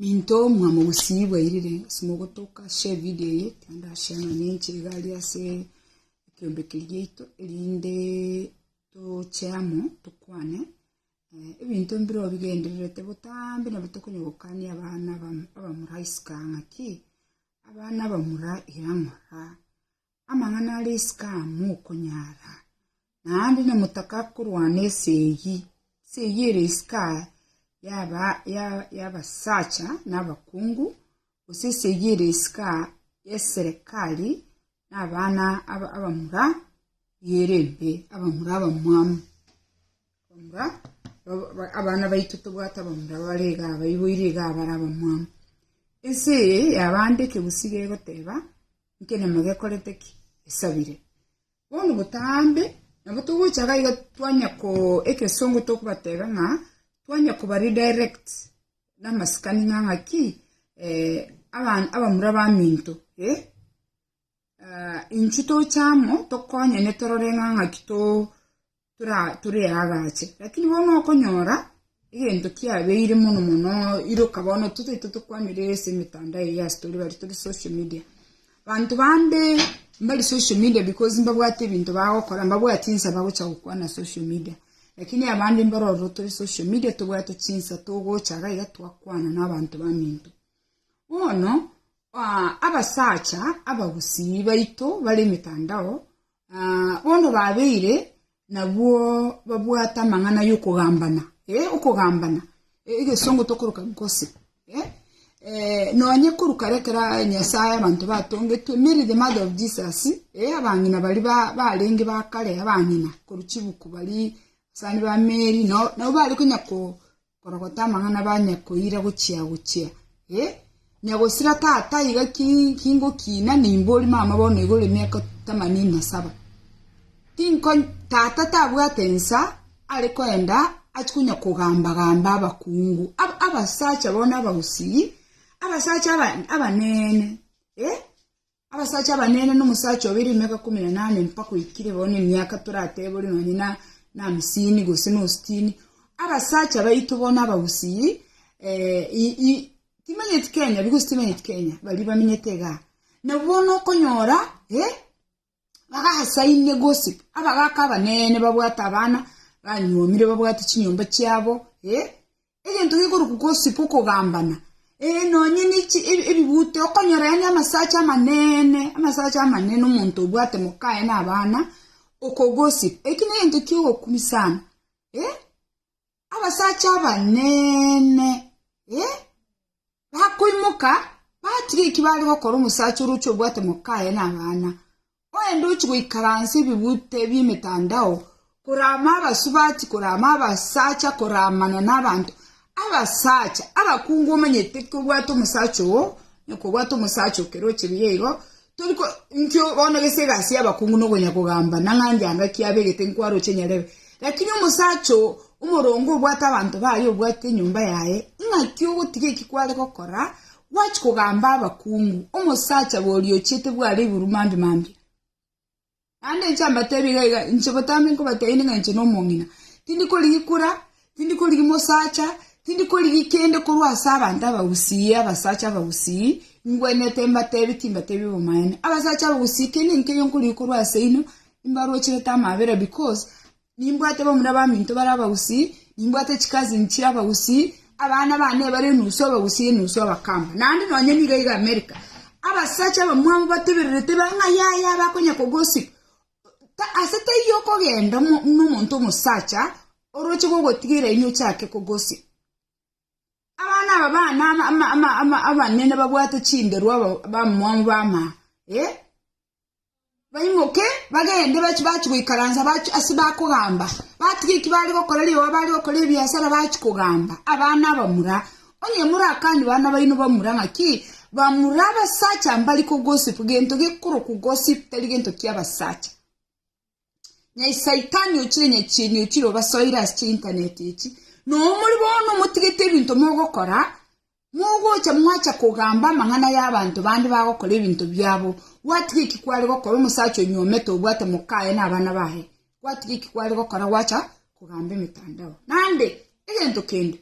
Minto omwamo gusii bwairire ase mogotoka share video eye naende ase amang'ana enche iga aria ase ekeombeki giaito erinde toche amo tokwane eh, ebinto mbiro bigendererete botambe nabwo tokonya gokania abana abam- abamura isiko ng'a ki abana abamura iga ng'ora Amang'ana a Risika mokonyara, naende namotaka korwana esegi, esegi e Risika y'abasacha nabakungu, gose esegi e Risika y'eserekari nabana abamura ere embe, abamura abamwamu, abamura abana baito tobwate abamura bare iga abaiboire iga bare abamwamu. Ense eye yabande ekegusii gegoteba. Nkenyama gekorete ki? Esabire. Bono botambe, nabo togocha iga iga twanya ko, ekesongo tokobateba ng'a twanya koba redirect na amasikani ng'a ng'aki eh, aban, abamura baminto eh, ah, inchu toche amo tokonyane torore ng'a ng'aki to tore aagache, lakini bono okonyora egento kiabeire mono mono iroka bono totaito tokwanire ase emetandao eye ase tore bare tore social media. Banto bande mbari social media because mbabwate ebinto bagokora, mbabwati insa bagocha gokwana social media, lakini abande mbaro ororo tore social media tobwate chinsa togocha iga iga twakwana na abanto baminto. Bono abasacha abagusii baito bare emetandao Na bono babeire nabwo babwate amang'ana y'okogambana, ee, okogambana, e, egesongo tokoroka gose, e, e, nonye korwa kare kera Nyasae abanto batongetwe, Mary the mother of Jesus, e, abang'ina bari ba, barenge ba kare, abang'ina korwa chibuku bari abasani ba Mary, no- nabo bare konya ko Korogota amang'ana banyakoira gochia-gochia, ee, nyagosira tata iga ki kingokina nimbori mama bono iga ore miaka tamanini na saba. Tinko tata tabwate ensa are koenda achia konya kogamba-gamba abakungu aba abasacha bono abagusii, abasacha aba abanene, ee, Abasacha abanene nomosacha obe rimeka komi na nane mpaka oikire bo nemiaka toratebe ore nonye na namisini gose nositini abasacha baito bono abagusii timanyeti kenya because timanyeti kenya baria bamenyete igaa nabo bono okonyora bagasaine gose abagaka abanene babwate abana banyuomire babwate chinyomba chiabo egento gekorokwa gosipa okogambana, ee, nonya nechi ebi- ebibute, okonyora yaani amasacha amanene, amasacha amanene omonto obwate mokaye na abana, okogosipa. Eki negento kiogokumi sana. Eh, abasacha abanene, eh, Bakoimoka, batiga eki baare gokora omosacha oroche obwate mokaye na abana, oende ochie goikaransa ebigute bi'emetandao, korama abasubati, korama abasacha, koramana nabanto. Abasacha abakungu omanyete ki obwate omosacha oo, na kobwate omosacha o keroche biaigo, Tori ko inkio bono gese egasi y'abakungu na okonya kogamba, na ng'a nyango ki abegete nkwaroche nyarebe. Lakini omosacha oo omoronge obwate abanto baye obwate enyomba yaye, ing'aki ogotiga eki kware gokora, gwachia kogamba abakungu, omosacha boria ochiete bware iguru mambia mambia? Naende inche mbateebie iga iga, inche botambe nkobateebia ning'a inche nomong'ina. Tindi korigia ikura, tindi korigia mosacha, tindi korigia kende korwa ase abanto abagusii, abasacha abagusii, ngwenerete mbateebie timbateebie obomaene. Abasacha abagusii kende nkeiyo nkorigia korwa ase inwe, imbarocherete amabera because Nimbwate bamura baminto bare abagusii, nimbwate chikazini chire abagusii, abana bane bare enusu abagusii enusu abakamba, naende nonye nigo iga Amerika, abasacha abamwamu batebererete bare ng'a yaya abe akonya kogosib ta- ase taiyo okogenda mo- nomonto omosacha oroche gogotiga eraini ochake kogosib. Abana aba bane ama- ama- ama- ama- abanene babwate chinderwa aba- abamwamu bama eh. baimoke bagende bachi bachi goikaransa bachi ase bakogamba, batiga eki bare gokora rioba bare gokora ebiasara bachi kogamba abana abamura. Onye morakanie bana baino bamura ng'aki, bamura abasacha mbari ko gossip, gento gekorokwa gossip tari gento ki'abasacha. nyai saitani ochire nyachieni ochire obasoire ase cheinternet echi nomori bono motigete ebinto mogokora mogocha mwacha kogamba amang'ana y'abanto bande bagokora ebinto biabo gwatiga eki kware gokora omosacha onyomete obwate mokaye na abana baye gwatiga eki kware gokora gwacha kogamba emetandao nande egento kende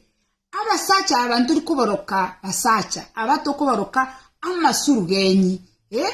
abasacha aba ntori koboroka basacha aba tokoboroka amasuru genyi eh?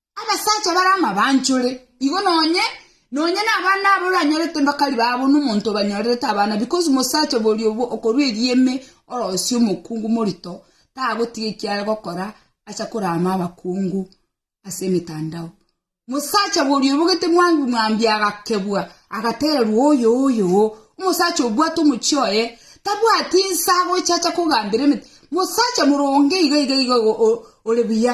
Abasacha bare amabanchore, igo nonye, nonye nabana abo oranyorete mbakari babo nomonto obanyorerete abana because mosacha boria obwo okorua erieme orosie omokungu morito tagotiga ekiare gokora acha korama abakungu ase emetandao. Mosacha boria obwo gete mwangi mwambia agakebua agatererwa oyoyoo omosacha obwate omochie oye tabwati nsa agocha acha kogambera emete. Mosacha moronge iga iga iga igo ore buya.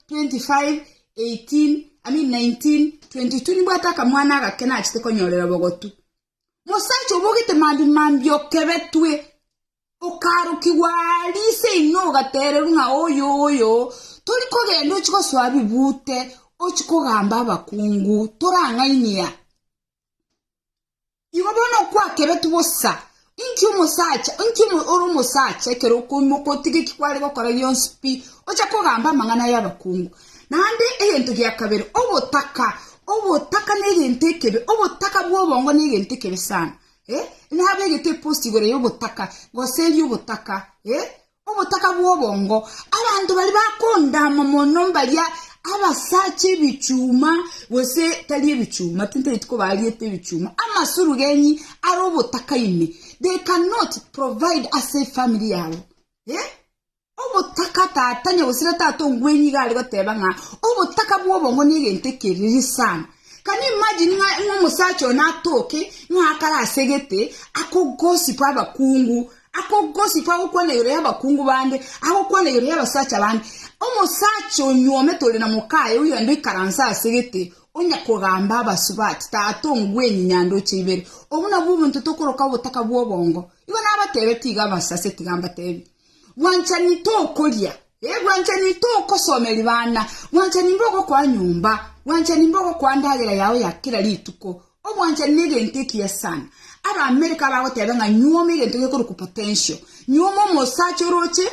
25:18,19:22 Nimbwate akamwana agake nachete konyorera obogotu. Mosacha obogete mambia mambia okebetwe, okarokigwa aa rise inwe ogatererwa ng'a oyo oyo, tori kogenda ochie gosoa bibute, ochie kogamba abakungu, torang'ainia. Igo bono okwakeretu bosa, inki omosacha, inki ore omosacha ekero okoimoka otige eki kware gokora gionsi pi, oche kogamba amang'ana y'abakungu. Naende egento gia kabere, obotaka, obotaka negento ekebe, obotaka bwa obongo negento ekebe sana, eh, nabegete epost igoro y'obotaka, gose erio obotaka, eh. Obotaka bw'obongo. Abanto baria bakondama mono mbaria abasacha ebichuma, gose tari ebichuma, tintaeti ko bariete ebichuma, amasurugeni are obotaka ime. They cannot provide a safe family yabo. Eh? Obotaka tata nyagosira tata ongwenyi iga are goteba ng'a obotaka bw'obongo ne egento ekeriri sana. Can you imagine ng'a ng'a omosacha one atoke ng'a akare asegete akogosipu abakungu Akogosikwa agokwana igoro y'abakungu bande, agokwana igoro y'abasacha bande. Omosacha onyuomete ore na mokaye, oyio naende oikaranse ase gete, onya kogamba abasubati, Tata ongwenye nyanda oche ibere. Obwo nabwo obonto tokoroka obotaka bw'obongo. Igo nabateebete iga abasase, tiga mbateebie, Bwanchani tokoria. Ee, bwanchani togosoma erio bana, bwanchani mbogokoa nyomba, bwanchani mbogokoa ndagera yao ya kera rituko. Obwanchani negento ekiya sana. Abaamerika bagoteba ng'a nyuoma egento gekorokwa potential. Nyuoma omosacha oroche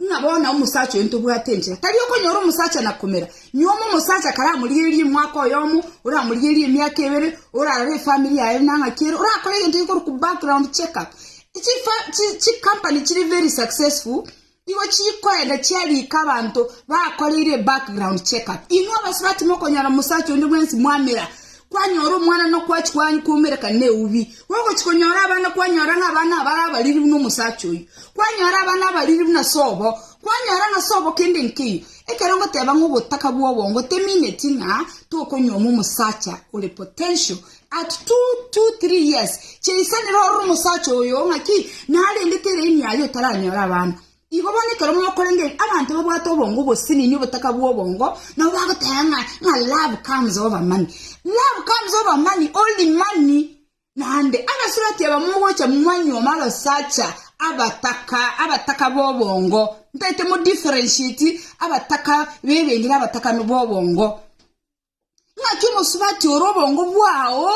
ng'a bono omosacha oyo ntobwate enchera. Tari okonyora omosacha na komera. Nyuoma omosacha karamorigererie omwaka oyomo, oramorigererie emiaka ebere, orarore efamiri yaye buna ng'aki ere, orakore egento gekorokwa background check up. Chifa, chi, chi company chire very successful, Igo chikoenda chia riko abanto bakoreire background check up. Inwe abasubati mokonyora omosacha onde bwensi mwamera, kwanyora omwana nokwachi kwanyu kwoumereka neubi. Gogochi konyora abana kwanyora ng'a abana abare abariri buna omosacha oyio. Kwanyora abana abariri buna sobo, kwanyora ng'a sobo kende nkeiyo. Ekero ngoteba ng'a obotaka bwobongo temineti ng'a tokonyuoma omosacha ore potential At two to three years cheisanera ore omosacha oyo ng'aki narendete eraini yaye otaranyora abana. Igo bono ekero mokorengeri abanto babwate obongo obosinini obotaka bw'obongo nabo bagoteba ng'a ng'a love comes over money. Love comes over money only money naende abasurati aba mogocha mwanyuoma abasacha abataka abataka b'obongo ntaete mo differentiate abataka b'ebende na abataka b'obongo. Naki omosubati ore obongo bwao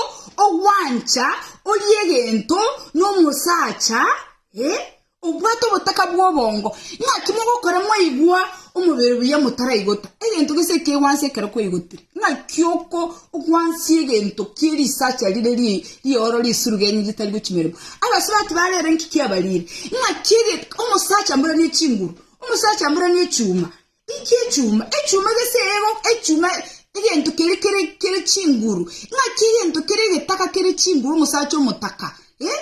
ogwancha orie egento nomosacha obwate obotaka bw'obongo, naki mogokora mwaigwa omobere buya motaraigota egento gese ekegwansa ekero kwaigotire. Naki oko ogwansie egento kie risacha rire rie rioro risiru genye ritari gochi meremo. Abasubati bare ere inki kiabarire? Naki omosacha mboranie chinguru, omosacha mboranie echuma. Inki echuma? Echuma gese ego, echuma egento keria kere kere chinguru. Ng'aki egento kere egetaka kere chinguru omosacha omotaka. Eh?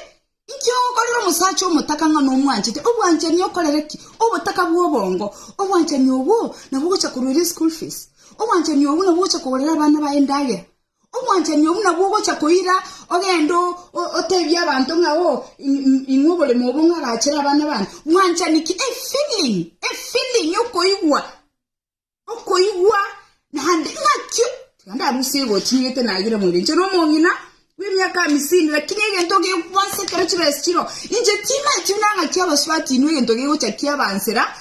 Inki ogokorera omosacha omotaka ng'a nomwanchete? Obwanchani okorere ki? Obotaka bwa obongo. Obwanchani obwo nabwo ogocha korwa eria eschool fees. Obwanchani obwo nabwo ogocha kogorera abana baye endagera. Omwanchani oo buna bwogocha koira, ogende otebie abanto ng'a oo ing'we oboremo obo ng'a agachere abana bane. Mwanchani ki? A feeling, a feeling, okoigwa, okoigwa naende ng'aki? Tiga ndarusie egoti nigete nagire moyio. Inche nomong'ina bw'emiaka hamisini lakini egento gekwansa ekero chibesi chiroo, inche timanyeti buna ng'aki abasubati inwe egento gegocha kiabansera.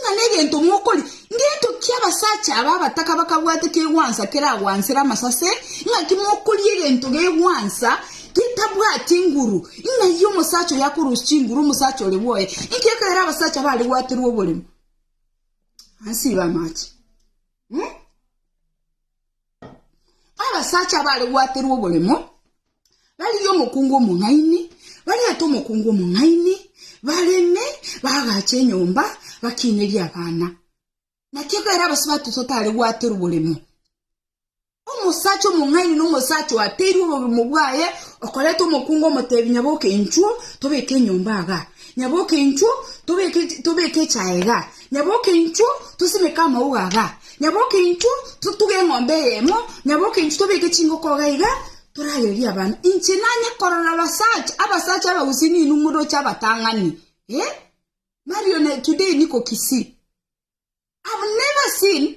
Ng'a negento mokori, ngento ki abasacha aba abataka bakabwate kegwansa keragwansere amasase? Ng'aki mokoria egento gegwansa getabwati enguru? Ng'ai omosacha oyo akorosia chinguru omosacha ore bwoye? Inki ekeire abasacha bare gwaterwa oborimo anse iga amache? Abasacha abare gwaterwa oboremo barigia omokungu omong'aini, bariete omokungu omong'aini, bareme, bagache enyomba, bakinerie abana. Naki ekero abasubati totare gwaterwa oboremo, omosacha omong'aini na omosacha oateirwe oboremo bwaye, okoreta omokungu omotebi nyaboke inchuo, tobeke enyomba iga, nyaboke inchuo, tobeke tobeke echae iga. Nyaboke intwe tosimeke amauga aya, nyaboke intwe totuge eng'ombe eyemo, nyaboke intwe tobeke chingoko iga iga, torayererie abana. Inche nanye korora abasacha, abasacha abagusii ninwe moroche abatang'ani eh, Marion today niko Kisii. I've never seen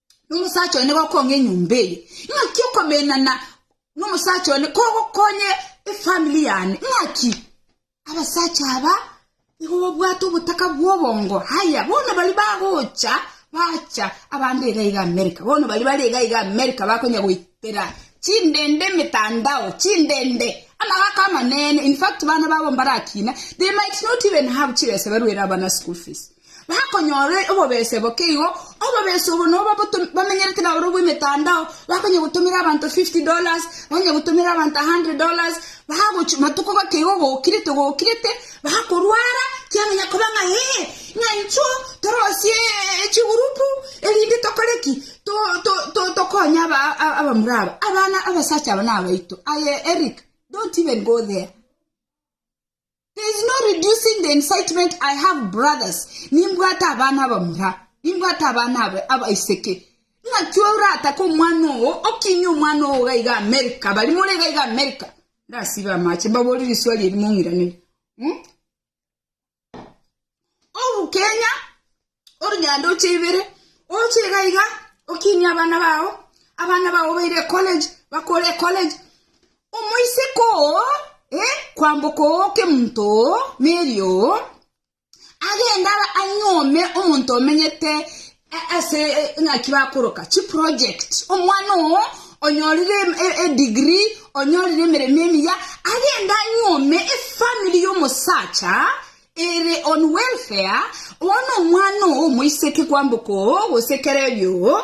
nomosacha one gokong'a enyomba eye, ng'aki okomenana nomosacha one kogokonye efamiri yane, ng'aki abasacha aba nigo babwate obotaka bwa obongo. Haya bono baria bagocha bacha abande iga iga America, bono baria bare iga iga America bakonya goitera chindende emetandao, chindende amagaka amanene, infact bana babo mbarakina, they might not even have chibesa baruere abana school fees. bakonyora obobese boke igo, obobese obo nobo bato- bamenyerete na oro bw'emetandao, bakonya gotomera abanto 50 dollars, bakonya gotomera abanto 100 dollars, bagochi matuko goke igo gokirete gokirete, bakorwara, kiamanya koba ng'a ee, ng'a inchuo torosie chigurupu erinde tokore ki? To- to- to- tokonye aba a- abamura aba, abana abasacha aba nabaito. Aye Eric, don't even go there. There is no reducing the incitement. I have brothers. Nimbwate abana abamura. Nimbwate abana aba- abaiseke. Ng'aki orataka omwana oo, okinye omwana oo gaiga Amerika, bari more gaiga Amerika. Ndasibe amache, mbabori riswali eri mong'iraneri. Hmm? Obu Kenya, Onye aande ocheibere, oche iga iga okinie abana bao, abana bao baire ecollege, bakore ecollege, omoiseke oo, eh, kwamboka oo okemonto oo, Mary oo, agende ara- anyuome omonto omenyete a- ase e- eng'aki bakoroka chiproject, omwana oo onyorire em- e- edigiri, onyorire emeremo emiya, agende anyuome efamiri y'omosacha Ere on welfare, bono omwana oo omoiseke kwamboka oo gose kera erio oo,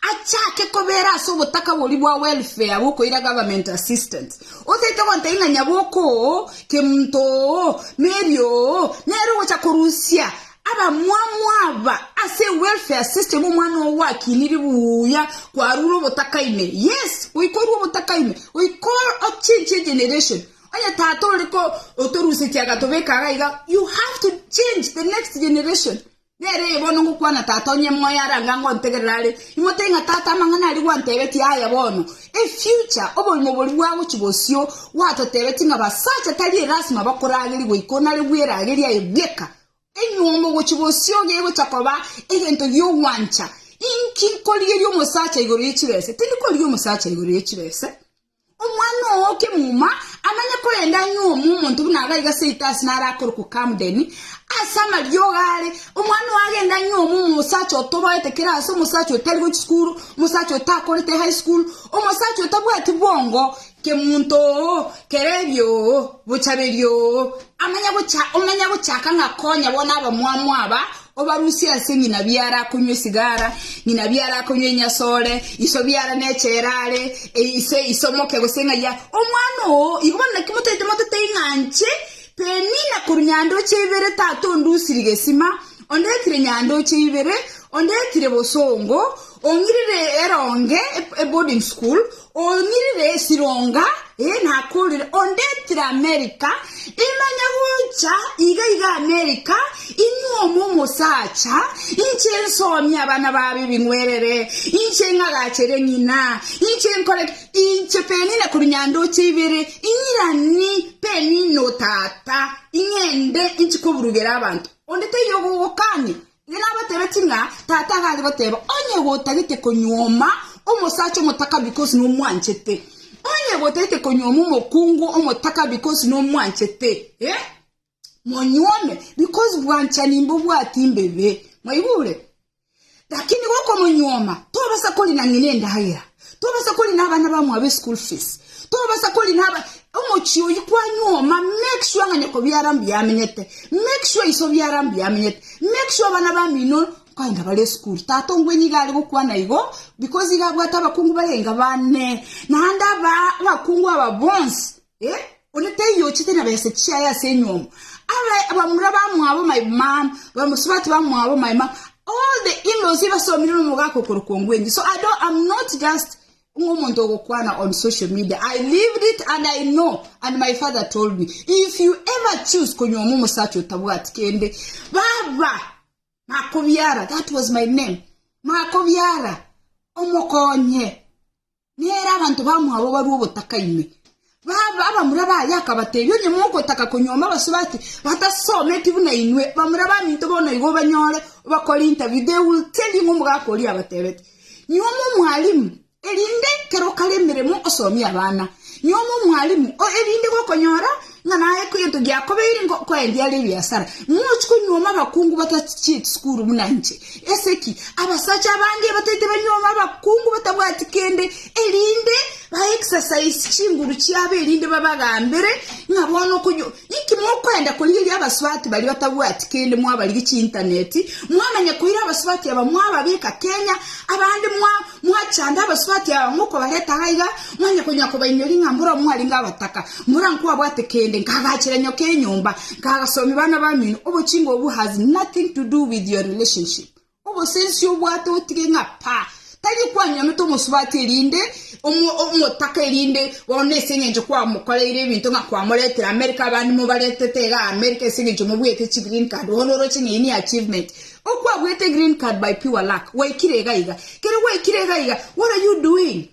achake kobera ase obotaka boria bwa welfare bokoira government assistance. Otaete gontebia ng'a nyaboko oo, kemonto oo, Mary oo, nere ogocha korusia abamwamu aba ase ewelfare system omwana oo gwakiniri buya kwarure obotaka ime. Yes, goika orue obotaka ime, goika o change egeneration. Onye Tata ore ko otorusetie agatobeka iga iga, you have to change the next generation. Nere eye bono ngokwana Tata onye moyo are anga ngontegerera are, imotebie ng'a Tata amang'ana aria gwantebetie aya bono, e future oborimo boria bwagochia bosio gwatotebetie ng'a basacha tari erasima bakoragerie goika onare bweragerie aye bweka. Enyomba ogochia bosio gegocha koba egento gi'ogwancha. Inki nkorigerie omosacha igoro ye chibese? Tindi korigia omosacha igoro ye chibese. Omwana oo o kemuma anonye korende ang'e omo omonto buna aro aiga seito ase naro akorokwa Camden, ase amariogo are, omwana oo agende ang'e omo omosacha otoboete kera ase omosacha otari gochia sukuru, omosacha otakorete high school, omosacha otabwati bwongo, kemunto oo, kerebi oo, bochaberi oo, amanye gocha omanye gochaka ng'a akonya bono abamwamu aba, Obarusie ase ng'ina biara akonywa esigara, ng'ina biara akonywa enyasore, iso biara neche ere are, ise ise omoke gose ng'ai are. Omwana oo, igo bono naki motaete motete ing'anche, Penina korwa nyandoche ibere tata ondusirie gesima, ondetire nyandoche ibere, ondetire bosongo, ong'irire eronge, eboarding school, Onyirire esironga, ee nakorire, ondetire Amerika, imanye gocha iga iga Amerika, inyuoma omosacha, inche nsomie abana babo ebing'werere, inche ng'agachere ng'ina, inche nkore ki? Inche penine korwa nyandoche ibere, inyirani penine o tata, ing'ende inche koburugera abanto. Onde taiyo ogogokania? Ere abateebeti ng'a, Tata iga aregoteeba, Onye gotagete konyuoma omosacha omotakabi gose nomwanchete, onye gotagete konyuoma omokungu omotakabi gose nomwanchete, eh, monyuome, because bwanchani mbobwati imbebe. Mwaigure? Lakini gokomonyuoma, tobasa korina ng'ina endagera. Tobasa kori na abana bamwabo eschool fees tobasa kori na aba omochie oyi kwanyuoma make sure ng'a nyoko biara mbuya amenyete make sure iso biara mbuya amenyete make sure abana bamino nkaenda bare eschool tata ongwenye iga are gokwana igo because iga abwate abakungu barenga bane naende abaa abakungu aba bonsi Eh, onde teiyo ochete na besa chiaye ase enywomo. Abe abamura bamwabo my mom, bamusubati bamwabo my mom. All the in-laws ibasomire nomogaka okorokwa ngwenyi. So I don't, I'm not just ngomonto ogokwana on social media. I lived it and I know and my father told me if you ever choose konywoma omosacha otabwati kende baba makobiara that was my name makobiara omokonye Nere abanto bamwabo barue ogotaka ime. Baba abamura baye akabatebia, Onye mogotaka konyuoma abasore ati batasometi buna inwe, bamura baminto bono igo obanyore obakore interview, they will tell you ng'a omogaka oria abatebete, Nyuoma omwalimu, erinde kero okare emeremo osomie abana. Nyuoma omwalimu, erinde gokonyora ng'a naye egento giakobeire ngokoa erio are ebiasara, mochi konyuoma abakungu batachiche chisukuru buna inche. Ase ki? Abasacha abange bataete banyuoma abakungu batabwati kende, erinde ba exercise chinguru chiabo erinde babagambere ng'a bono okonyu... Inki mokoenda korigeria abasubati baria batabwati kende mwabarige chiintaneti, mwamanya koira abasubati aba mwababeka Kenya, abande mwa mwachanda abasubati aba mokobareta iga, Mwanya konya kobainyora ing'a mboro mwarenge abataka, mboro nkwabwate kende, nkagachera nyoka enyomba, nkagasomia bana bamino, obochinga obwo has nothing to do with your relationship. Obosensi obwate otige ng'a pa, tari kwanyomete omosubati erinde omo, omotaka erinde bono ase eng'encho kwamokoreire ebinto ng'a kwamoretire America abande mobaretete iga America ase eng'encho mobwete chi green card bono oroche ng'a eye ni achievement. Okwabwete green card by pure luck, gwaikire iga iga. Kere gwaikire iga iga, what are you doing?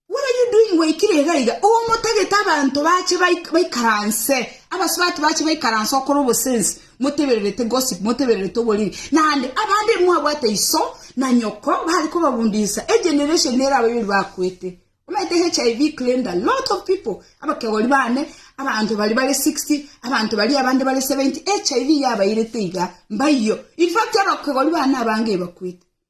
What are you doing waikire iga iga? Omotagete abanto bache baik- baikaranse, abasubati bache baikaranse okora obosensi, motebererete gossip, motebererete oboriri. Naende abande mwabwate iso na nyoko bare kobabundisa, egeneration ere abayori bakwete. Omanyete HIV claimed a lot of people, abakegori bane, abanto bari bare 60, abanto bari abande bare 70, HIV yabairete iga, mbaiyo. In fact, abakegori bane abange ebakwete.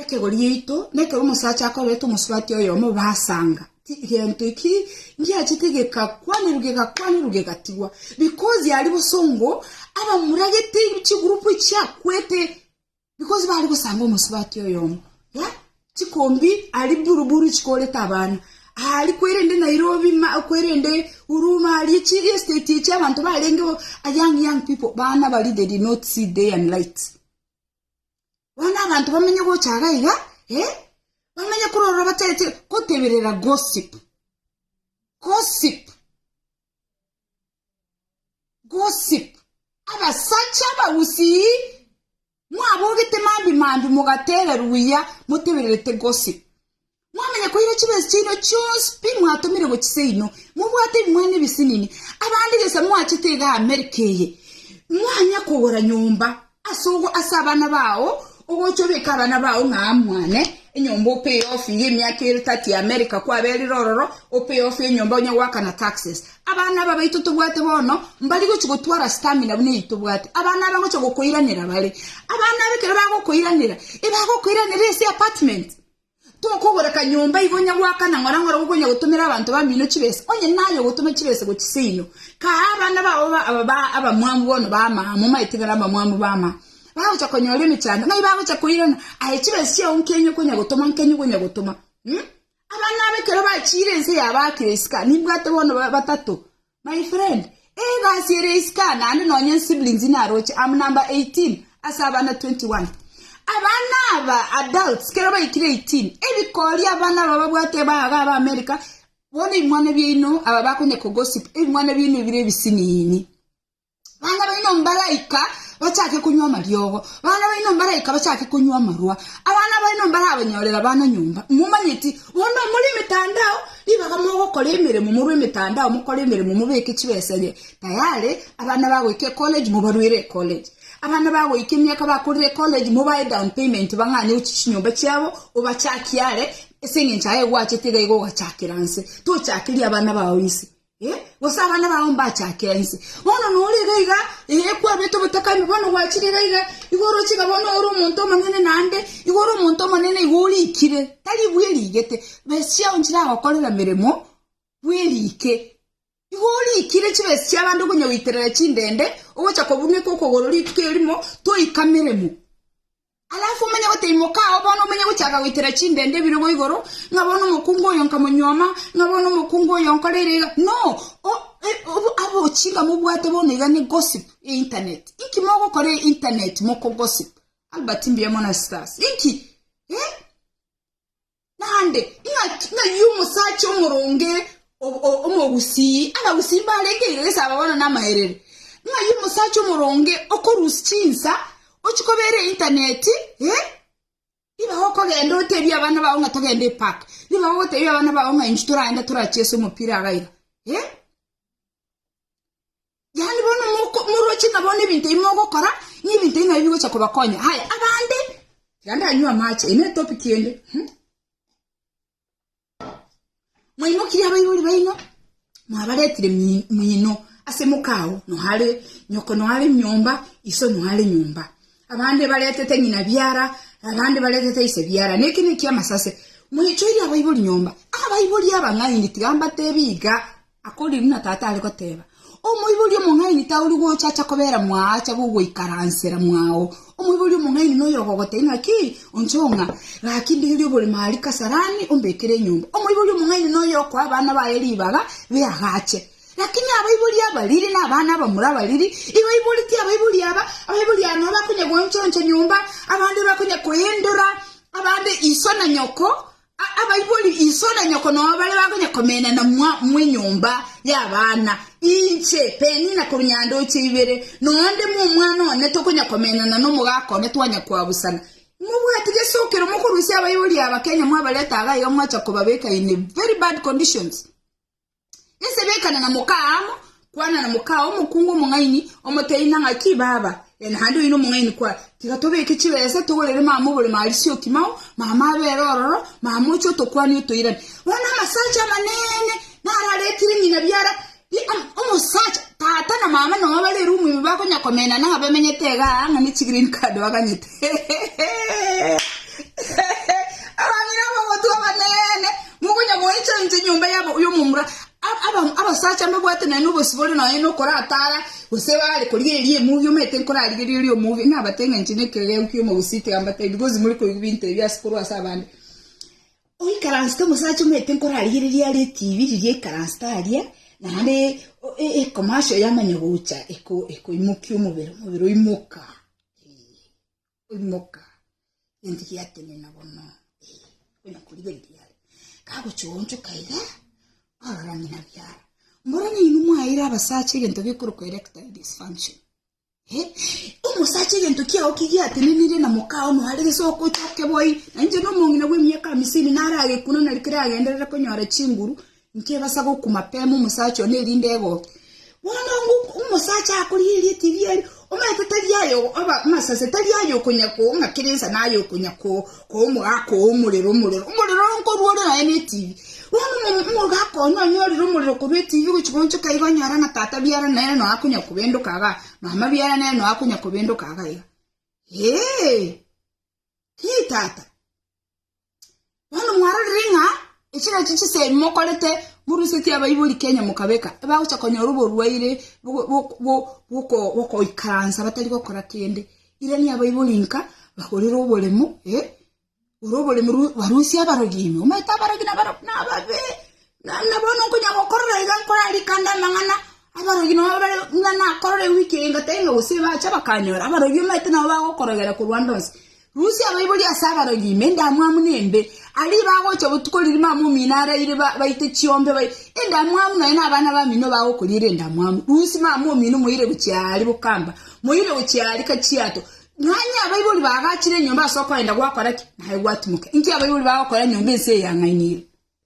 Ekegori giaito nekero omosacha akorerete omosubati oyomo basanga ti gento eki ngiachete gegakwanerwa gegakwanerwa gegatigwa because yari bosongo abamuragete chigroup chiakwete because bari gosanga omosubati oyomo ya chikombi ari buru buru chikorete abana ari kwerende Nairobi ma kwerende Huruma ari chi estate echi abanto barenge young young people bana bari they did not see day and light Bono abanto bamenye gocha iga iga, eh, bamenye korora batagete goteberera gossip. Gossip. Gossip. Abasacha abagusii, mwabogete mambi mambi mogatera ruya motebererete gossip. Mwamanya koira chibesi chiaino chionsi pi mwatomire gochia seino, mobwate ebimwana ebisinini, abande gesa moachete iga Amerika eye, mwanya kogora nyomba ase ogo ase abana bao, ogocha obeke abana bao ng'a aa mwane enyomba opay off iga emiaka ere 30 Amerika kwaberire ororo opay off enyomba onya goaka na taxes. Abana aba baito tobwate bono mbari gochia gotwara stamina buna eyi tobwate. Abana aba ngocha gokoiranera bare. Abana aba ekero bagokoiranera, ebagokoiranera ase apartment. Tokogora kanyomba igo onya goaka na ng'ora ng'ora gokonya gotomera abanto bamino chibesa, onye naye ogotoma chibesa gochia seino. Kaa abana bao aba ba abamwamu bono b'amama, momaete ng'a nabamwamu b'amama, bagocha konyora emechando, ng'ai bagocha koirana? Aye chibesa chiao nkenye okonya gotoma, nkenye okonya gotoma? Mh. Abana aba ekero bachiire ense yabaakire isiko, nimbwate bono batato. My friend, Ee egasi ere isiko naende nonya ensiblings naroche, am number 18 ase abana 21. Abana aba, adults, kero baikire 18, ebikori abana aba babwate aba iga aba America, bono ebimwana biaino aba bakonya ko gossip, ebimwana biaino ebire ebisiniini. Bana baino mbaraika bachake konywa amariogo, bana baino mbaraika bachake konywa amarwa, abana baino mbarabanyorere abana nyomba. Momanyeti, bono omore emetandao, ribaga mogokora emeremo, morwe emetandao, mokore emeremo, mobeke chibesa enye tayare, abana bagoika ecollege, mobaruere ecollege. Abana bagoika emiaka bakorire ecollege, mobae down payment bang'ane gochia chinyomba chiabo, obachakie are, ase eng'encho aye egwachete iga iga ogachakera nse. Tochakeria abana bao nse. Eh, gose abana bao mbachake ense bono nore iga iga eh, kwabete obotakami bono gwachire iga iga igo oroche iga bono ore omonto omonene naende igo ore omonto omonene igo orikire tari bwe rigete besi chiao nchiragokorera meremo bwerike igo orikire chibesi chia abande okonya goiterera chindende ogocha kobuneka okogoro rituko erimo toika meremo Alafu omenye goteimoka ao bono omenye gochaka goitera chindende ebirogo igoro, ng'a bono omokungu oyo nkamonyuoma, ng'a bono omokungu oyo nkoreire iga. No, abo chinga mobwate bono iga ne gossip e internet. Inki mogokora e internet moko gossip? Albert mbuya mono ase inki? Eh? Naende ing'aki ng'ai omosacha omoronge omogusii abagusii mbarenge iga gese aba bono namaerero? Ng'ai omosacha omoronge okorusia chinsa ochia kobeera eintaneti, eh, nigo ogokogenda otebie abana bao ng'a togende epark, nigo ogotebia abana bao ng'a inche toraende torachese omopira iga iga, eh. yaani bono moko- moroche ng'a bono ebinto ebi mogokora nebinto ebi nabio bigocha kobakonya haya abande iga ndanywe amache eye netopic ende hmm? mwaimokirie abaibori baino mwabaretire mi- mino ase mokao noare nyoko noare nyomba iso noare nyomba abande baretete ng'ina biara abande baretete ise biara na eke nekiamasase mwachoire abaibori nyomba abaibori aba ng'aini tiga mbatebi iga Akoriirwe na Tata are goteeba, Omoibori omong'aini taori gocha acha kobera mwaacha b'ogoikaransera mwao. Omoibori omong'aini noyo ogogoteebia ng'a ki onchao ng'a, Gaki ndegerie oboremo aaria kasarani, ombekere enyomba. Omoibori omong'aini noyo okoa abana baye ribaga, beagache. Lakini abaibori abariri na abana abamura abariri, ibaiboretie abaibori aba, abaibori aba nabo bakonya gooncha-oncha nyomba, abande bakonya koyendora, abande iso na nyoko, Abaibori iso na nyoko nao bare bakonya komena na mwa mwenyomba y'abana. Inche, Penina korwa Nyandoche ibere, nonde mwa omwana one tokonya komenana n'omogaka one twanya koabusana. Imobwati gesokero mokorusia abaibori aba Kenya mwabareta iga iga mwacha kobabeka in a very bad conditions. Inse bekana na moka amo, kwana na moka omokungu omong'aini, omotebi na ng'aki, Baba, e, naende oyio nomong'aini kwa, tiga tobeke chibesa togorere mama obore marisio okimao, mama abere ororo, mama oche otokwani otoirane. Bono amasacha amanene nararetire ng'ina biara, omosacha tata na mama noa bare eroomu ime bakonyakomenana ng'a bamenyete igaa ng'a ne chigreen card baganyete. Abamino ab'ogotwa abanene, mokonya goecha inse enyomba y'omomura, abasacha mbabwate naende obosibore nonya nokoratara, gose bare koria eria emugi omanyete nkorarigereria omugi, nabate ng'a inche nekegeu ki'omo gose tiga mbatebi, kozi more koigwa bintebi ase korwa ase abande. Oikaransete omosacha omanyete nkorarigereria are etibi riria aikaransete aria, naende ecomercial yamanya gocha ekoimokia omobere, omobere oimoka. Oimoka, egento giatenena bono, onya korigereria are. Kagochia oonchoka iga, orora ng'ina biara. Mbora nainwe mwaeire abasacha egento gekorokwa erectile dysfunction. Eh, omosacha egento kiao ki giatenenire na mokao mware gese okochoke boi. Nainche nomong'ina bw'emiaka hamisini naragekunanari kere agenderere konyora chinguru, Nkebasa gokuma pemu omosacha one erinde egoke. Bono omosacha akorigereria etibi erio, omanyete tari aye amasase, tari aye okonya kong'akera ensa naye okonya komogaka oo omorero, omorero, omorero nkorwa ore naye netibi. Bono omogaka one onyorire omorero korwa etibi gochi gochoka iga onyore ng'a tata biara nere no akonya kobendoka iga, mama biara nere no akonya kobendoka iga iga. Eeh! Hii tata! Bono mwarorire ng'a echiro echi chisemi mokorete morusetie abaibori Kenya mokabeka, ebagocha konyora oborwaire bwokoikaransa batari gokora kende. Irani abaibori nka bagorere oboremo, eh, ore oboremo barusie abarogi ime, omanyete abarogi nabare buna ababe. Naende bono nkonya gokorora iga nkorarike ande amang'ana abarogi nabo bare ng'a nakorore wiki eye ngoteba ng'a gose bacha bakanyora, abarogi omanyete nabo bagokorogera korwa ande onsi. Rusia abaibori ase abarogi ime endamwamu nembe, aria bagocha botuko riria mama omino araire ba baite chiombe bae endamwamu nonya na abana bamino bagokoriera endamwamu, rusia mama omino moire gochia aria bokamba, moire gochia aria kachiato, nonya abaibori baagachire enyomba ase okoenda gwakora ki? Naye gwatimoka. Inki abaibori bagokora enyomba ense eyang'ainire?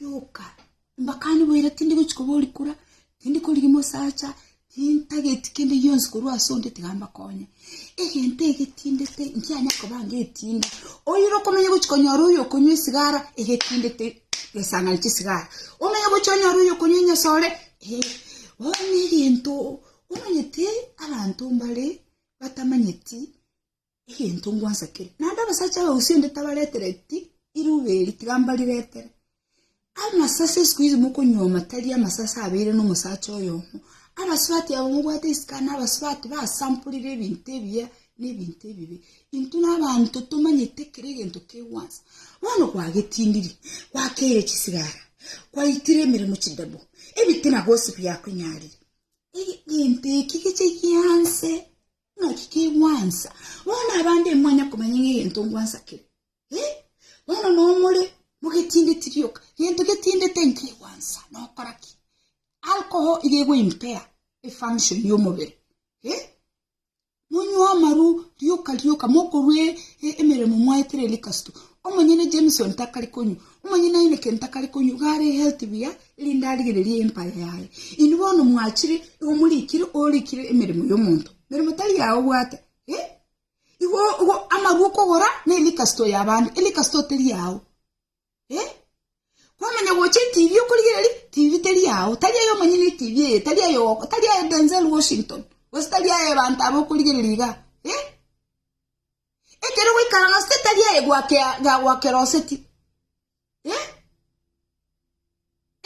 Rioka. Mbakane boira tindi gochi kobori kura, tindi korigi mosacha, tintageti kende gionsi korwa ase onde tiga mbakonye. Egento egetindete nkianya koba ngetinda. Oire okomenya gochi konyora oyo okonywa esigara egetindete gesang'ani chisigara. Omenye gochi onyore oyo okonywa enyasore eh, bono negento omanyete abanto mbare batamanyeti egento ngwansakere. Naende abasacha abagusii onde tabaretereti iruba eri, tiga mbariretere. Amasase isiko iso mokonyuoma tari amasase abeire nomosacha oyomo. Abasubati aba mobwate isiko na abasubati basamporire ebinto ebiya na ebinto ebibe. Intwe na abanto tomanyete kera egento kegwansa. Bono kwagetindiri, kwakeire chisigara, kwaitire emeremo chidebo, ebitina gose biakonyaarire. Egento eki geche gianse Naki kegwansa? Bono abande imwanya komanya ng'a egento ngwansa kere? Eh, bono nomore mogetindeti rioka. Gento getindete nkegwansa nokora ki? Alcohol iga egoimpea efunction y'omobere. Eh, monywa amaru rioka rioka mokorwa e- e- emeremo mwaetera erikasito. Omonyene Jameson takari konywa, omonyene Heineken takari konywa, iga are healthy buya, erinde arigererie empaya yaye. Inwe bono mwachire igo morikire orikire emeremo y'omonto, meremo tari yaye obwate, ee, igo igo amarwa okogora ne rikasto y'abande, erikasto teri yao, ee, kwamanya gocha etibi okorigereria tibi teri yao, tari aye omonyene etibi eye, tari aye ogo, tari aye Denzel Washington, gose tari aye abanto aba okorigereria igaa, ee, ekero gwaikara nonsi tari aye gwakea ga gwakeroseti.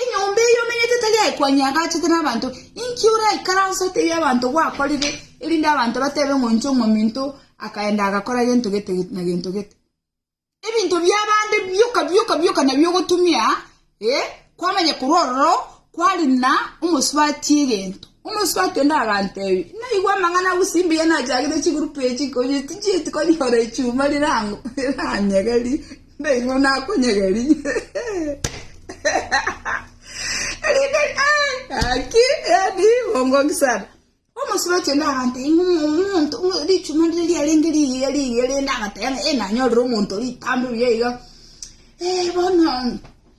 Enyomba eye omenyete tari aye kwanyagachete nabanto, inki oraikaranse otebie abanto gwakorire, erinde abanto batebe ng'a inche omominto akaenda agakora gento gete na gento gete? Ebinto bi'abande bioka bioka bioka nabio ogotumia, kwamanya korwa ororo kwarina omosubati egento. Omosike o kende aganteebia, Naigwa amang'ana abo ase mbuya nachakete chigurupu echi, konya tinchieti konyora echuma riranyegerie, nainwe nakonyegeria. Erinde gaki, yaani bongoki sana. Omosike o kende aganteebia, Omonto, richuma rire riarenge rigiya rigiya, rende agateba ng'a, Ee, nanyorire omonto ritambe buya iga, ee, bono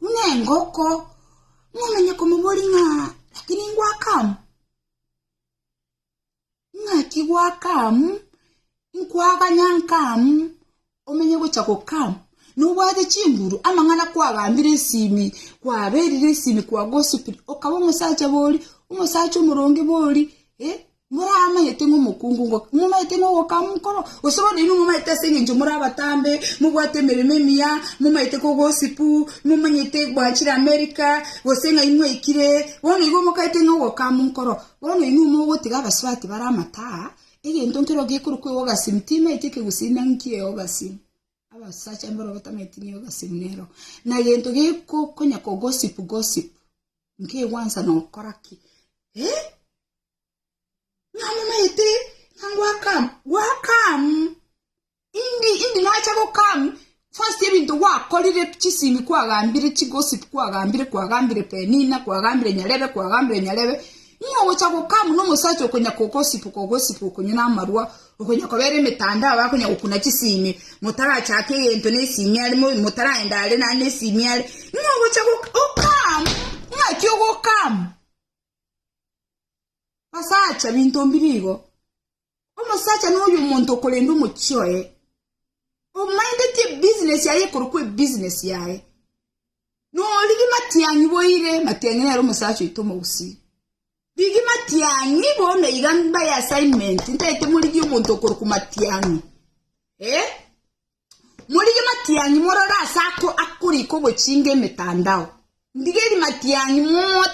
nengoko, ng'omenye komoboria ng'a lakini ngwakamu? Ng'aki gwakamu, nkwaganya nkamu, omenye gocha gokamu. Nobwate chinguru, amang'ana kwagambire esimi, kwaberire esimi kwagosupire, okaba omosacha bori, omosacha omoronge bori, eh. Moramanyete ng'a omokungu ngoka, momanyete ng'a ogokama onkoro, gose bono inwe momanyete ase engencho more abatambe, mobwate emeremo emiya, momanyete ko gosipu, momanyete bwanchire Amerika, gose ng'a imwaikire, bono igo mokaete ng'a ogokama onkoro. Bono inwe mogotiga abasubati bare amate aa, egento nkero gekorokwa eogasimu timaeti ekegusii naki eogasimu, abasacha mbarabwo batamaeti ng'a eogasimu nero, na gento geko konya kogosipu gosipu, nkegwansa nokora ki? Eeh. Namomaete, na ngwakama, gwakam, indi, indi nacha gokam, first ebinto gwakorire, chisimi kwagambire, chigossip kwagambire, kwagambire Penina, kwagambire Nyarebe, kwagambire Nyarebe, ng'a ogocha gokam nomosacha okonya kogossip, kogossip okonywa namarwa, okonya kobera emetandao, akonya gokuna chisimi, motarachake egento na esimi are, mo- motaraenda are nande esimi are, ng'a ogocha gok- okam, ng'aki ogokam. Basacha, binto mbiri igo. Omosacha noyo omonto okorenda omochie oye. Omaindeti ebusiness yaye ekorokwa ebusiness yaye. Nori rimatiang'i boire, matiang'i nere omosacha oito omogusii. Rigi matiang'i bono iga mbaye assignment, ntaete morigie omonto okorokwa matiang'i. Eh? Morigie matianyi morore aase ako akorika ogochinga emetandao. Ndigerie matianyi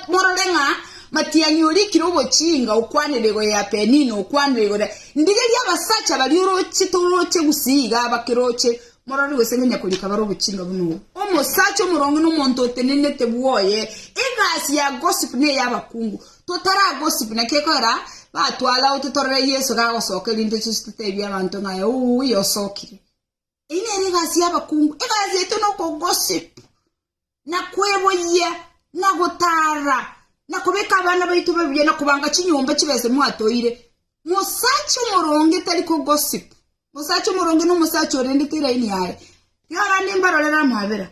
morore ng'a matianyi orikire ogochinga okwanera igoro ya Penina okwanera igoro ya. Ndigerie abasacha baria oroche toroche gusii igaa abakeroche morore gose ngonya korika bare ogochinga buna obo. Omosacha omoronge na omonto otenenete bwoye egasi ya gossip na eyabakungu. Totaragosibu naki ekorera, batware ao totorore Yeso gagosoka, erinde toche toteebie abanto ng'a aye ouya osokire. Eyio nere egasi y'abakungu, egasi yaito nokogosipu, na kweboyia, na gotara, na kobeka abana baito babuya, na kobanga chinyomba chibe ase mwatoire. Mosacha omoronge tari kogosipu. Mosacha omoronge na omosacha orendete eraini yaye. Riaro ande mbarorere amabera,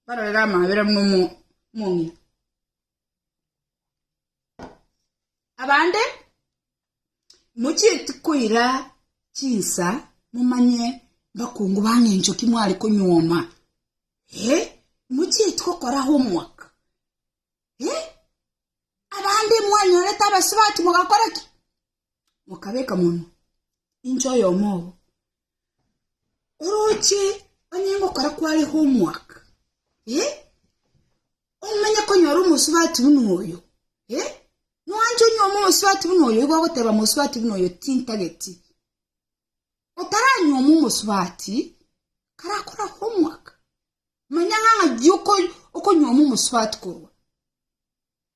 mbarorere amabera buna omo- omong'ina. Abande, mochieti koira chinsa momanye mbakungu bane encho ki mware konyuoma. Eh, mochieti gokora homework. Eh, abande mwanyorete abasubati mogakora ki? mokabeka monwe, inche oyomo obo. Oroche onye ngokora kware homework, eh? Omenye konyora omosubati buna oyo, eh? Noanche onyome omosubati buna oyo, igo ogoteba omosubati buna oyo tintageti. Otaranyoma omosubati, karakora homework, manya ng'a ng'aki oko- okonyoma omosubati korwa.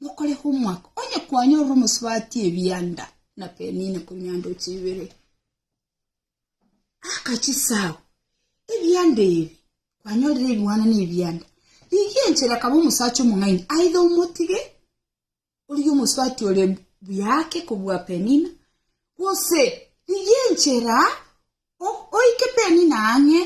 Mokore homework onye kwanyorire omosubati ebianda na penine komianda ochibere akachisago ebianda ebi kwanyorire ebiwana na ebianda rigi enchera kaba omosacha omong'aini aidha omotige origi omosubati ore buyake kobua penina gose rigi enchera Oike Penina ang'e,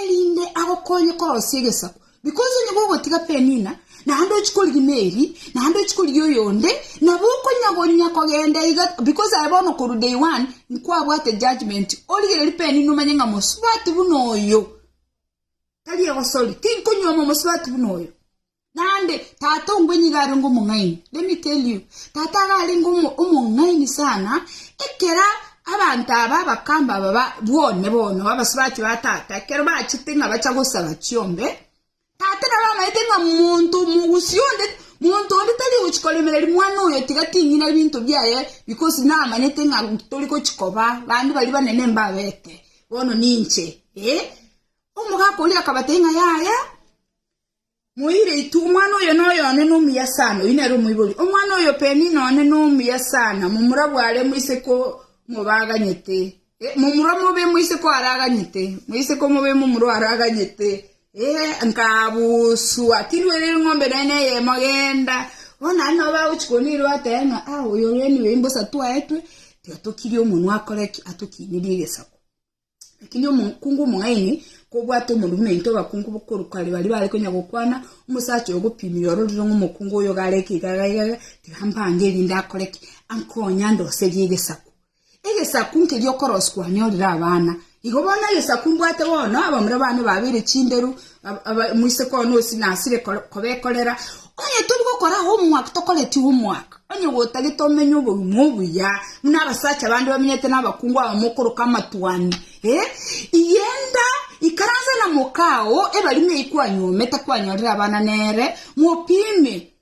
erinde agokonye korosia egesaku, because onye gogotiga Penina, naende ochie korigia Meri, naende ochie korigia oyonde, nabo okonyagonya kogenda iga, because aye bono korwa day one nkwabwate judgement, origererie Penina omanye ng'a mosubati buna oyo, tari egosori, tinkonyuoma mosubati buna oyo. Naende tata ongwe nigo arenge omong'aini. Let me tell you, tata iga arenge omong'aini sana, ekero abanto aba abakamba aba ba bwone bono abasubati ba tata ekero bachete ng'a bacha gosaba chiombe, tata nabo amanyete ng'a monto omogusii onde monto onde tari ogochia koremereri mwana oyo tiga ting'ina ebinto biaye because namanyete ng'a tori gochia koba bande baria banene mbabete, bono ninche, eh, omogaka oria akabatebia ng'a yaya. Moiretu, omwana oyo noyo one nomuya sana, oyio nere omoibori, omwana oyo peni none nomuya sana, momura bware moiseke omobaganyete, eh, momura omobe moiseke oaraganyete, moiseke omobe momura oaraganyete, eh, nkabusua, tinduerere ng'ombe naye neyemo genda, bono ari nabo bagochikonirwa atebe ng'a ah, oyo reniwe imbosa twaetwe, tiga tokirie omonwa akore ki, atokinerie egesako. Lakini omokungu omong'aini kobwate omorwoti naintwe abakungu bokorwa kare baria bare konya gokwana, omosacha oyo ogopimirie ororire ng'a omokungu oyo iga areke iga iga iga iga, tiga mbange erinde akore ki? Ankonye andoserie egesaku. Egesaku nkeria okorosia kwane orire abana. Igo bono egesaku mbwate bono, abamura bane babeire chinderu, Ab- aba- Moise koo nosi nasire kor- kobekorera, onye tori gokora homework tokoreti homework, onye gotagete omenye obogima obuya buna abasacha bande bamenyete na abakungu aba mokoroka amatuani eh? Igenda ikaranse na mokao ebarimo eyi kwanyomete kwanyorire abana nere mopime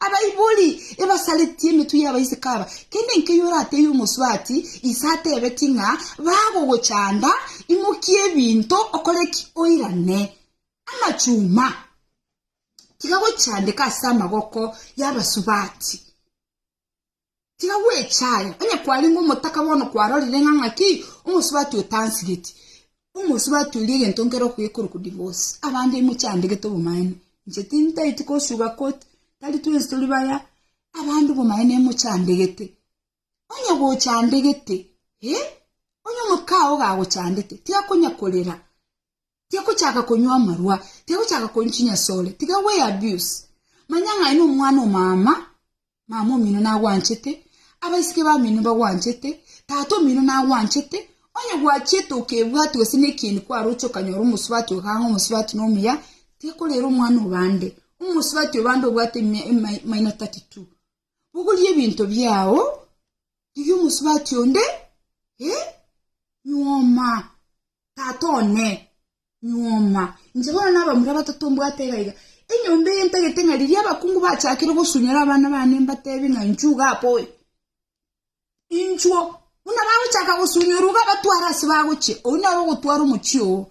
Abaibori ebasaretie emetwe y'abaiseke aba, kende nkeyio oratebie omosubati ise atebetie ng'a bagogochanda, imokia ebinto, okore ki? Oirane amachuma. Tiga gochandeka ase amaboko y'abasubati. Tiga gwecha aya, onye kwarenge omotaka bono kwarorire ng'a ng'aki, omosubati oyo tansigeti. Omosubati oria egento nkere okoyekora ko divorce. Abande imwe chiandegete obomaene. Inche tintaeti ko sugar coat, tari twensi tori baya. Abande obomaene imwe chiandegete. Onye gochandegete, eh, onye omokao gagochandete, tiga konya korera. Tiagochaka konywa amarwa, tiagochaka konywa chinyasore, tiga gwe abuse. Manya ng'a aye nomwana o mama, mama omino nagwanchete, abaiseke bamino nibagwanchete, tata omino nagwanchete, onye gwachiete okebwati gose nekieni kwaroche okanyora omosubati oyo kang'o omosubati nomuya, tiga korera omwana obande, omosubati obande obwate ime, ime, minor 32. Bogorie ebinto biao rigia omosubati onde, e, nyuoma, tata one, nyuoma. Inche bono nabamura batato mbwate iga iga. Enyomba eye ntagete ng'a riria abakungu bachakire gosunyora abana bane mbatebi ng'a nchuga apoe. Inchuo, buna bagochaka gosunyorwa iga abatware ase bagochia, oyio nere ogotwara omochie oo.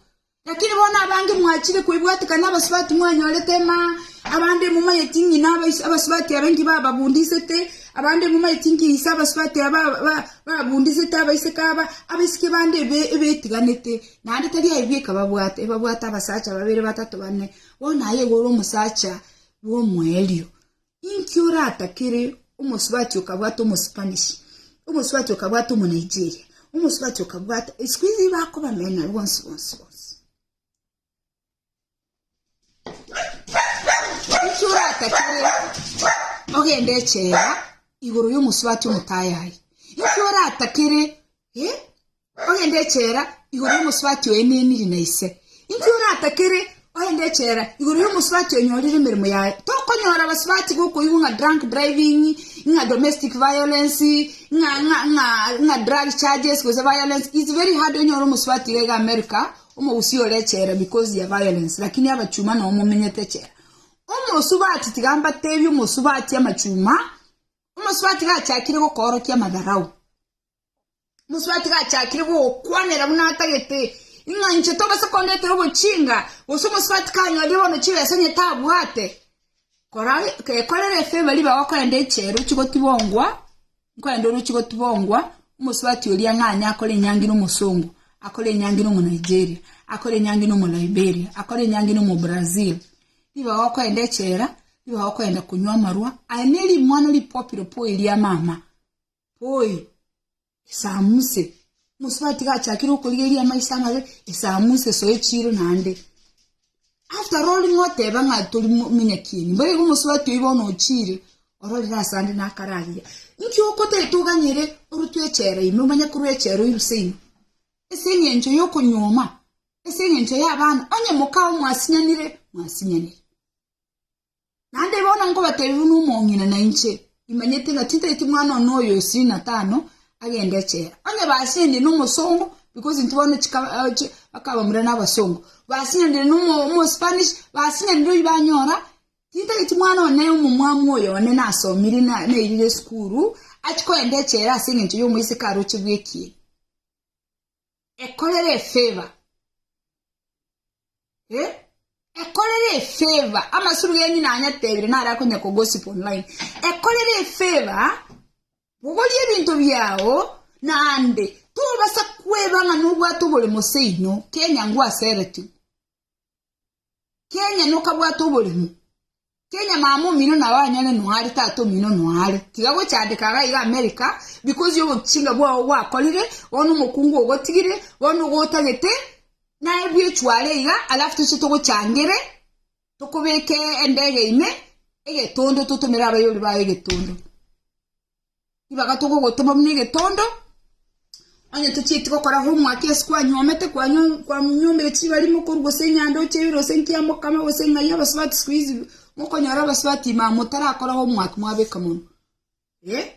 Lakini bono abange mwachire koibwatika nabasubati mwanyorete ma, abande momanyeti ng'ina abais- abasubati aba inki bababundisete, abande momanyeti inki ise abasubati aba ba- ba- babundisete abaiseke aba, abaiseke bande ebe- ebetiganete, naende tari aye bieka babwate, ebabwate abasacha babere, batato, bane, bono aye iga ore omosacha bw'omoerio. Inki oratakere omosubati okabwata omospanish, omosubati okabwata omonaigeria, omosubati okabwata isiko iga bakobamena bonsi bonsi bonsi. Inki oratakere ogende echela igoro yomosubati omotayayi? Inki oratakere eh? Ogende echela igoro y'omosubati oeneniri na ise. Inki oratakere? Ogende echela igoro y'omosubati onyorire emeremo yaye. Tokonyora abasubati bokoigwa ng'a drunk driving, ng'a domestic violence, ng'a ng'a ng'a ng'a drug charges gose violence. It's very hard onyore omosubati iga iga America, omogusii ore echela because ya violence lakini abachuma noo momenyete echela. Omosubati tiga mbatebie omosubati amachuma, omosubati gachakire gokoorokia amadharau, Omosubaiti gachakire gokwanera buna atagete, ing'a inche tobasa kondetera obochinga, gose omosubaiti kanyorire bono chibesa onye tabwate, kora gekorere efeba ribe gokorende eche orochi gotibongwa, nkorende orochi gotibongwa, omosubaiti oria ng'anye akore enyangi na omosongo, akore enyangi na omonaigeria, akore enyangi na omolaiberia, akore enyangi na omobrazil, nigo okorenda echela, nigo okorenda konywa amarwa, aye ne rimwana ripopiro po eria mama. Poi, esamuse. Omosubati tiga achakire okorigeria amaiso amabe, esamuse, soe chiro naende. After all ng'a oteba ng'a tori mo- monyakieni, mbore igo omosubati oyi bono ochire, ororire ase ande nakararia. Nki okotete oganyire orutwe echela ime, omanye korwa echela oiruse ime? Ase eng'encho ya okonyuoma? Ase eng'encho ya abana? Onye mokao mwasinyanire, mwasinyanire. Naende bono nkobateebia buna omong'ina na inche imanyete ng'a titaeti mwana one oyo ishirini na tano agende echela. Onye basianire nomosongo, because intwe bono chika bakabamura nabasongo, basianire nomo omospanish, basianire oyio banyora titaeti mwana one omomwamu oyo one nasomire na nairire esukuru, achia kogenda echela as'engencho y'omoiseke aroche bw'ekieni. ekorere efeva, eh, ekorere efeva, amasuru genyu nanyatebire nare akonya kogosip online, ekorere efeva, bogorie ebinto biao, naende tobasa kweba ng'a nobwate oboremo seino, Kenya ngwaseretwe. Kenya nokabwate oboremu. Kenya mama omino nao anyare noare tata omino noare. Tiga gochandeka iga iga America because yo obochinga bwao gwakorire, bono omokungu ogotigire, bono ogotagete, naye bwechware iga alafu toche togochangere, tokobeke endege ime, egetondo totomere abayori bao egetondo. Ribaga togogotoma buna egetondo, onye tochieti gokora homework ase kwanyuomete, kwanyu kwanyuomire chibarimo korwa gose enyanda ochebire gose nki yamokama gose ng'ai abasubati siku hizi mokonyora abasubati ma motarakora homework mwabeka mono eh,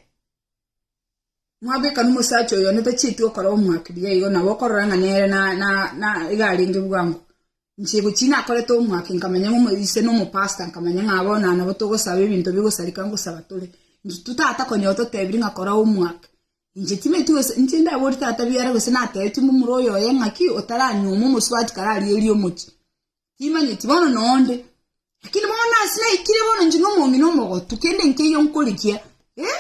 mwabeka na omosacha oyo onye tachieti gokora homework buya igo nabo okorora ng'a nere na na na iga arenge bwango. Inche gochia nakorete omwaka nkamanya ng'a omoyo ise nomopastor nkamanya ng'a bono aa nabo togosaba ebinto bigosareka ngosaba tore. Intwe tata konya ototebiri ng'a kora omwaka. Inche timanyeti gose inche ndaboria tata biara gose natebeti mbu mura oyo oye ng'aki otaranyuomwa omosubati kare arierie omochi. Timanyeti bono noonde. Lakini bono nase naikire bono inche nomong'ina omogotu kende nkeiyo nkorigia eh.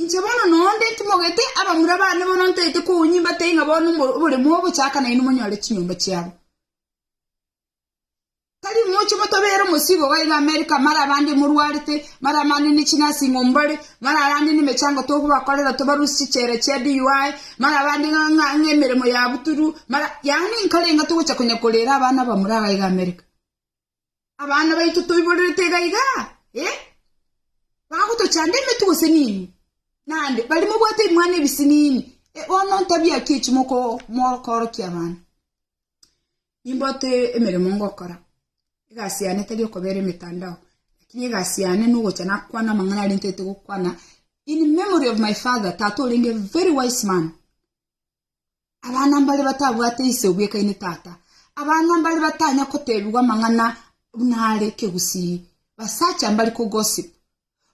Inche bono noonde ntimogete abamura baane bono ntaete kounyimba tei ng'a bono oboremu ogochaka nainwe monyore chinyomba chiabo. Tari moche motobere omosigo iga iga Amerika mara abande morwarete, mara abande ne chinursing home bare, mara abande nemechango tokobakorera tobarusie chichera chia DUI, mara abande ng'a ng'a ng'a emeremo yabuturu, mara yaani nkarenga togocha konya korera abana abamura iga iga Amerika. Abana baito toiborerete iga iga, eh? Bagotochanda emetu gose nini? Naende baria mobwate ebimwana ebisi nini? Eh, bono ntabia ki echi moko- mokoorokia abana? Nimbote emeremo ngokora. Egasi yane tari okobera emetandao, lakini egasi yane nogocha nakwana amang'ana aria ntaete gokwana in memory of my father, tata orenge very wise man. Abana mbare batabwate ise obwekaine tata. Abana mbare batanya kotebigwa amang'ana buna are kegusii. Basacha mbare ko gossip.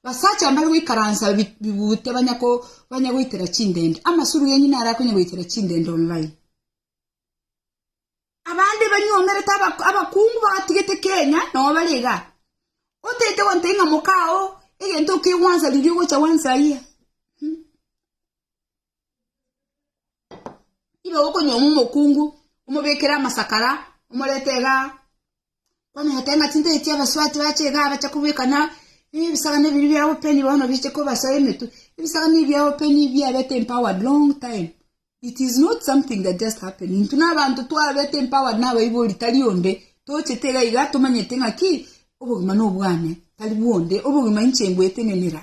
Basacha mbare goikaransa bigute banya ko banya goitera chindende. Amasuru yenyu nare akonya goitera chindende online. Abande banyomerete abakungu batigete Kenya nabo bare iga. Otaete gontebia ng'a mokao egento okigwansa riria ogocha gwansa aye. Ibe gokonyoma omokungu, omobekere amasakara, omorete iga kwamenyete ng'a chinto echi abasubati bache iga abacha kobeka na ebisagani ebiri bia open bono biche kobasoa emetwe. Ebisagani ebi bia open biabete empowered long time. It is not something that just happened. Intwe na abanto twabete empowered na abaibori tari onde tochete iga iga tomanyete ng'a ki? Obogima nobwane tari bwonde. Obogima inche ngwetenenera.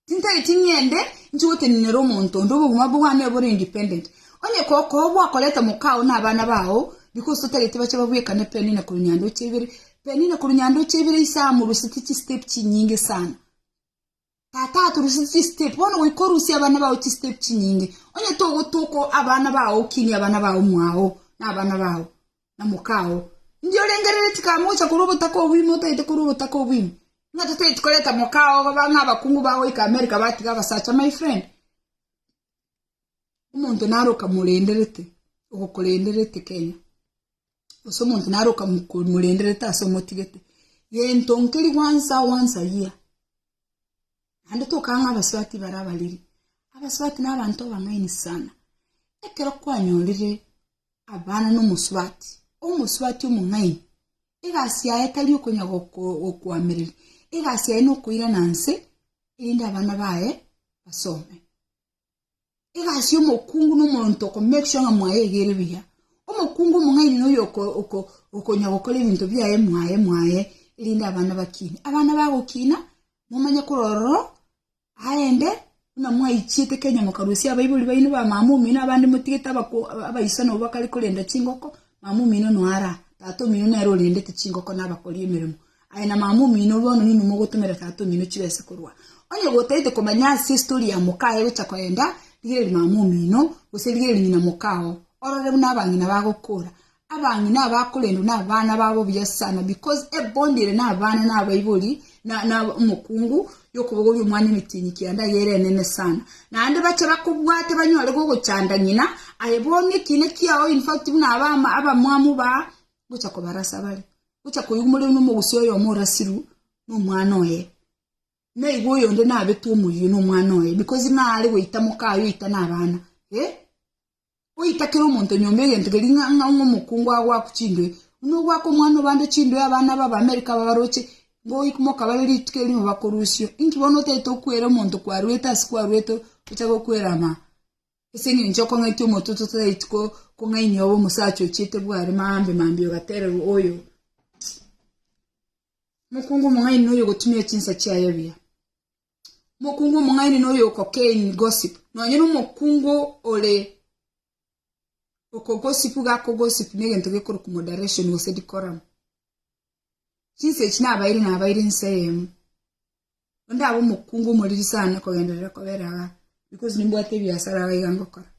Tintaeti ng'ende inche gotenenera omonto onde obogima bwane bore independent. Onye kokoa gwakorete moka oo na abana bao, because totareti bache babwekane Penina korwa nyandoche ibere, Penina korwa nyandoche ibere ise amoruseti chi step chinyinge sana. Tata atoruseti chi step, bono goika orusie abana bao chi step chinyinge. Onye togotoka abana bao okinie abana bao mwao na abana bao. na mokao, Indio orengereria chikaba mogocha korwa obotaka obwo ime otaete korwa obotaka obwo ime. Ng'a totaeti koreta mokao iga bang'a abakungu bagoika America batiga abasacha my friend. Omonto naro okamorenderete, ogokorenderete Kenya. Gose omonto naro okamorenderete ase omotigete. Gento nkeri once a once a year. Naende toka ng'a abasubati mbaro abariri. Abasubati na abanto abang'aini sana. Ekero kwanyorire abana nomosubati, omosubati omong'aini, egasi yaye tari okonya gokoamereria, egasi yaye nokoirana nse erinde abana baye basome. Egasi yomokungu nomonto oko make sure ng'a mwaegere buya. Omokungu omong'aini noyo oko- oko- okonya gokora ebinto biaye mwaye mwaye erinde abana bakine. Abana bagokina, momanye korwa ororo Aende, buna mwaichiete Kenya mokarusia abaibori baino ba mama omino abande motigete abakwo abaiso nabo bakare korenda chingoko, mama omino noara, tata omino nere orendete chingoko na abakori emeremo. Aye na mama omino bono ninwe mogotomera tata omino chibese korwa. Onye gotaete komanya ase story ya moka aye gocha koyenda, rigereria mama omino, gose rigereria ng'ina mokao, orore buna abang'ina bagokora. Abang'ina abakorendwa nabana babo buya sana because ebond ere nabana nabaibori na na omokungu yokobogoria omwana emetenyi kianda yere enene sana naende bache bakobwate banyore gogochanda ng'ina aye bono ekina kiao in fact buna aba abamwamu ba gocha kobarasa bare gocha koigwa more buna omogusia oyomo orasiru nomwana oye naigo oyonde nabetwe omoyio nomwana oye because nare goita mokaye oita nabana eh. Goika kera omonto nyomba egento keria ng'a ng'a ng'a omokungu agoakwe chindwee, buna ogoaka omwana obande chindwee abana aba Abamerika aba baroche ngoik mokabare rituko erimo bakorusio. Inki bono otaete okwere omonto kwarwete ase kwarwete ocha gokwera ama? Ase engencho okong'aitia omote totaeti ko kong'ainia obe omosacha ochiete bware maambe maambe ogatererwa oyo mokungu omong'aini noyo ogotumia chinsa chiaye buya. Omokungu omong'aini noyo oko kein gossip, nonye nomokungu ore oko gossip iga akogossip negento gekorokwa moderation gose decorum. Chinsa echi nabaeire nabaeire ense eyemo, onde abe omokungu omoriri sana kogenderera kobera igaa, because nimbwate ebiasara iga ngokora.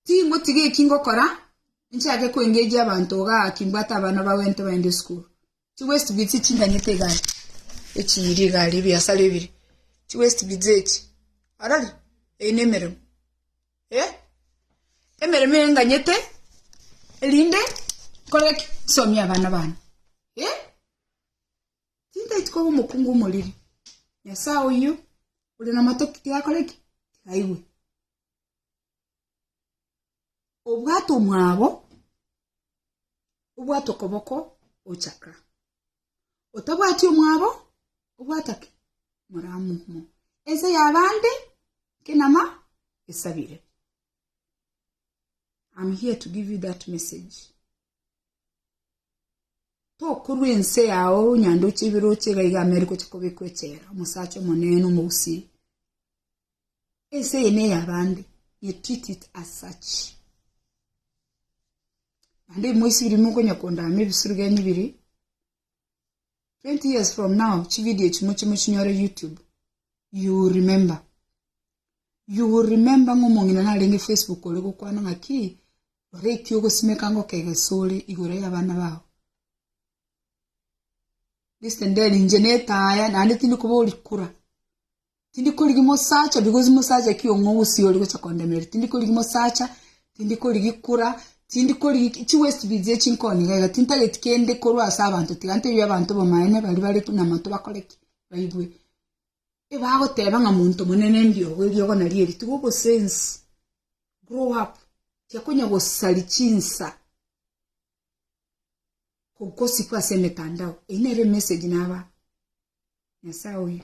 Tingotiga eki ngokora, nchake koengejia abanto ogaki mbwate abana ba gwento baende esukuru. Chiwaste bits echi nganyete igare, echi iri igare ebiasara ebire, chiwaste bits echi, orori? Eye ne emeremo. Eh? Emeremo eye nganyete erinde nkore ki? Nsomie abana bane. Eh? Tintaeti koba omokungu omoriri. Nyasae oyio ore namato tigakore ki? Tigaigwe. Obwate omwabo, obwate okoboko ochaka. Otabwati omwabo, obwata ki? Moramumo. Ense yabande kenama esabire. I'm here to give you that message. Tokorua ense yao nyandoche ebiroche iga iga Ameru gocha kobekwa echela omosacha omonene omogusii ense eye neye abande ye treat it as such naende moisibiri mokonya kondama ebisuru genyu biri 20 years from now chividio echi moche mochinyore youtube you will remember you will remember ng'a omong'ina narenge facebook ore gokwana ng'a ki rora eki ogosimeka ngoka egesore igoro y'abana bao listen then inche netaya naende tindi koba orikura Tindi korigi mosacha because mosacha ki ong'e ogusi ori gocha kondemeria tindi korigi mosacha tindi korigi kura tindi korigi ki- chi waste bits echi nkoni iga iga tintageti kende korwa ase abanto tiga ntebia abanto obomaene bari bare ki- na monto bakore ki baigwe ebagoteba ng'a monto monene mbiogo eriogo nari eri tiga obosensi grow up tiga konya gosari chinsa go- gosiku ase emetandao eyio nere emessage naba Nyasae oyo.